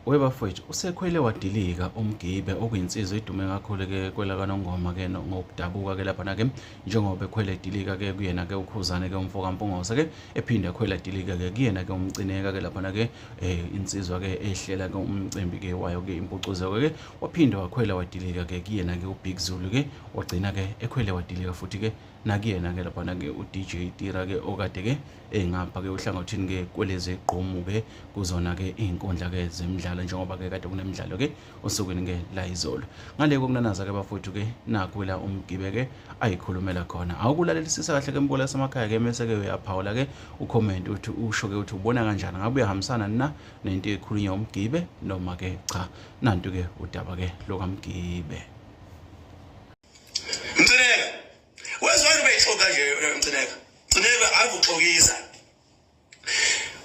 webafowethu usekhwele wadilika umgibe okuyinsizwa idume kakhulu ke kwelakanongoma ke ngokudabuka ke lapha nake njengoba ekhwele edilika ke kuyena ke ukhuzane ke umfo kampungose ke ephinde ekhwele edilika ke kuyena ke umcineka ke lapha nake eh insizwa ke ehlela ke umcimbi ke wayo ke impucuzeko ke waphinde wakhwela wadilika ke kuyena ke ubig zulu ke wagcina ke ekhwele wadilika futhi ke nakuyena ke lapha nake udj tira ke okade ke engapha ke uhlangothini ke kwelezi gqomu ke kuzona ke izinkundla ke zemidlalo njengoba ke kade kunemidlalo ke osukwini ke la izolo ngale kokunanaza ke bafowethu ke nakho la umgibe ke ayikhulumela khona awukulalelisisa kahle ke mbola samakhaya ke mese ke uyaphawula ke ucomment uthi usho ke uthi ubona kanjani ngabe uyahambisana na nento ekhulunywa umgibe noma ke cha nantu ke udaba ke lokamgibe Mthenela wezwani beyixoka nje mcineka mcineka ave uxokisa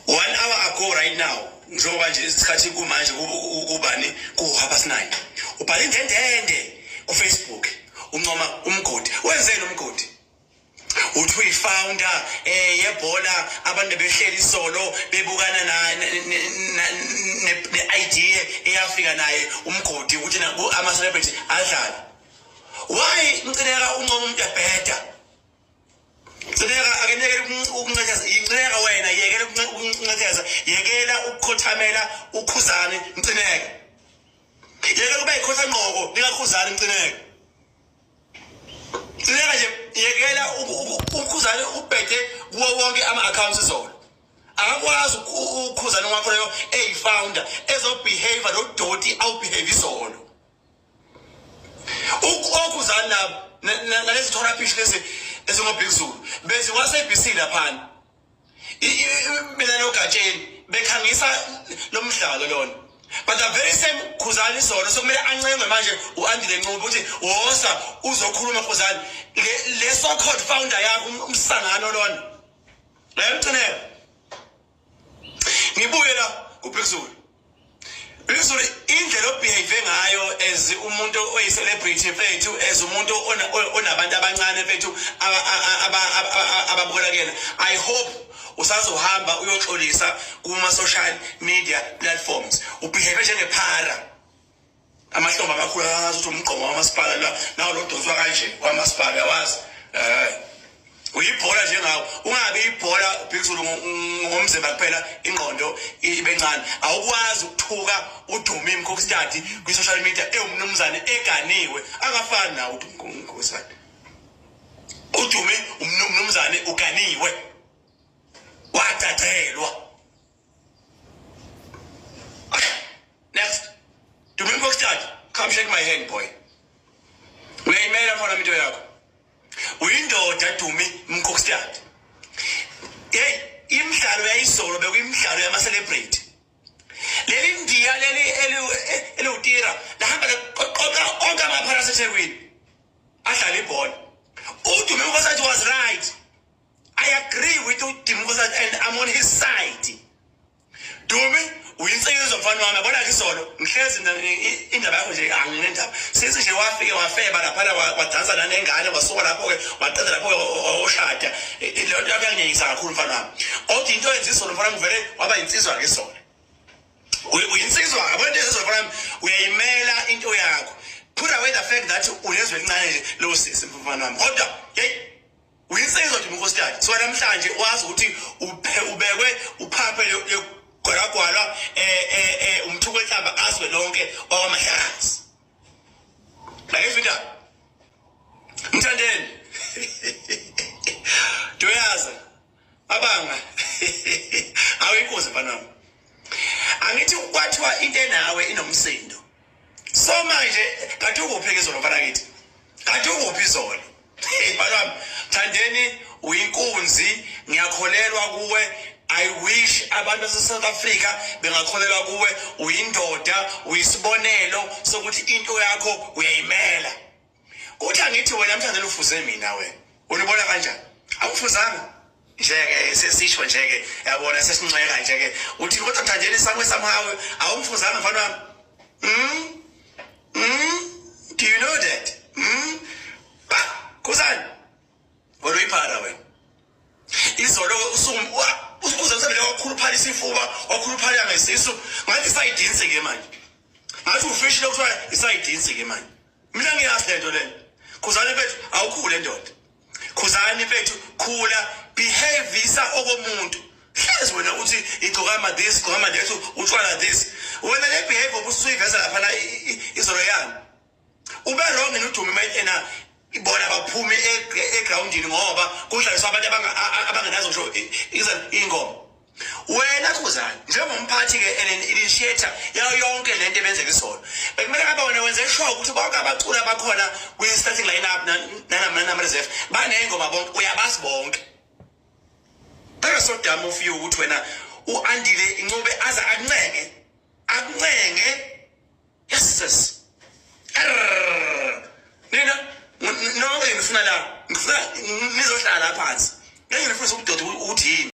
one hour ago right now njengoba nje isikhathi kumanje kubani kuhaba sinaye ubhala indendende kufacebook uncoma umgodi wenzeni umgodi uthi uyi-founder um yebhola abantu behleli isolo bebukana ne-idea eyafika naye umgodi ukuthi ama-celebrity adlale Why ngicileka uncomo umuntu ebheda? Cileka akenekele ukuncetheza, yicileka wena yekela ukuncetheza, yekela ukukhothamela ukhuzane mcineke. Yekela ukuba ikhotha ngqoko likakhuzane mcineke. Cileka nje yekela ukhuzane ubhede kuwo wonke ama accounts zona. Akakwazi ukhuzane wakho leyo eyi founder ezobehave lo doti awubehave izolo. Ukuzani labo nalezi thoraphishi lezi ezingobig zulu bezi kwasebc laphana mina nogatsheni bekhangisa lo mdlalo lona but the very same khuzani sona sokumele ancengwe manje u-andile ncuba ukuthi wosa uzokhuluma khuzani le so called founder yakho umsangano lona lemcinela ngibuye la kubhekuzulu lizulu indlela obehave ngayo as umuntu oyi-celebrity mfethu as umuntu onabantu abancane mfethu ababukelakela i hope usazohamba uyoxolisa kuma-social media platforms ubehave njengephara amahlombe amakhulu akazi ukuthi umgqomo wamasipala la nawo lodonswa kanje kwamasipala yawazi eh uyibhola njengawo ungabe ibhola ubhekisulu ngomzimba kuphela ingqondo ibe ncane awukwazi ukuthuka udume imkhokstadi kwi-social media ewumnumzane eganiwe akafani nawo udumekhokstadi udume umnumzane uganiwe wadacelwa Next. Do me book start. Come shake my hand, boy. Uyayimela khona into yakho. Uyindoda Dumi Mkokstad. Hey, imidlalo yayisolo bekuyimidlalo yama celebrate. Leli ndiya leli eliwutira lahamba qoqa konke amaphara aseThekwini. Adlala ibhola. Udume Mkokstad was right. I agree with uDimkosa and I'm on his side. Dumi uyinsekezo mfana wami yabona ke izolo ngihlezi indaba yakho nje anginendaba sisi nje wafike wafeba laphana wadansa lana engane wasuka lapho-ke waqeda lapho-ke oshada e, e, leyo nto yakho yangiyeyisa kakhulu mfana wami othi into yenza izolo mfana ngivele waba yinsizwa ke izolo uyinsizwa yabona into yezizolo mfana uyayimela into yakho put away the fact that unezwe elincane nje lowo sisi mfana wami kodwa yeyi Uyinsizwa nje unkosikazi. So namhlanje wazi ukuthi ubekwe uphaphe legwalagwala eh eh eh umthuko enhlamba azwe lonke wakwamahlazi. Bayizwa indaba. Mthandeni. Doyaza. Abanga. Awuyinkozi mfana wami. Angithi kwathiwa into enawe inomsindo. so manje kanti ukuphi izolo mfana kithi kanti ukuphi izolo mfana wami thandeni uyinkunzi ngiyakholelwa kuwe I wish abantu baseSouth Africa bengakholelwa kuwe uyindoda uyisibonelo sokuthi into yakho uyayimela Uthi angithi wena mthandela ufuze mina wena. Unibona kanjani? Awufuzanga. Njeke sesisho njeke yabona sesinxeka njeke uthi kodwa mthandela isakwe somehow awumfuzanga mfana wami. Mm. Mm. Do you know that? Mm. Ba, kusani? Kodwa iphara wena. Izolo usuku usukuze msebenzi wakhuluphala isifuba, wakhuluphala ngesisu, ngathi sayidinse ke manje. Ngathi ufishile kuthiwa isayidinse ke manje. mina ngiyazi lento le khuzani bethu awukhule ndoda khuzani bethu khula behavisa okomuntu hlezi wena uthi igcokama this gcokama that utshwala this wena le behavior obusuyiveza lapha la izolo yami ube wrong yini udume mayena ibona baphume e-, egroundini ngoba kudlaliswa abantu abangenazo ngisho ingoma wena khuzani njengomphathi ke and initiator yayo yonke le nto ebenzeka isona bekumele ngabe wena wenze sure ukuthi bonke abaculi abakhona kwi-starting line up nanama reserve baney'ngoma bonke uyabazi bonke bekesodama ofiyo ukuthi wena u-andile incube aze akuncenge akuncenge yeses nina nonke ngifuna la ngifuna nizohlala phansi ngeke ngifuna ukudoda ukuthi yini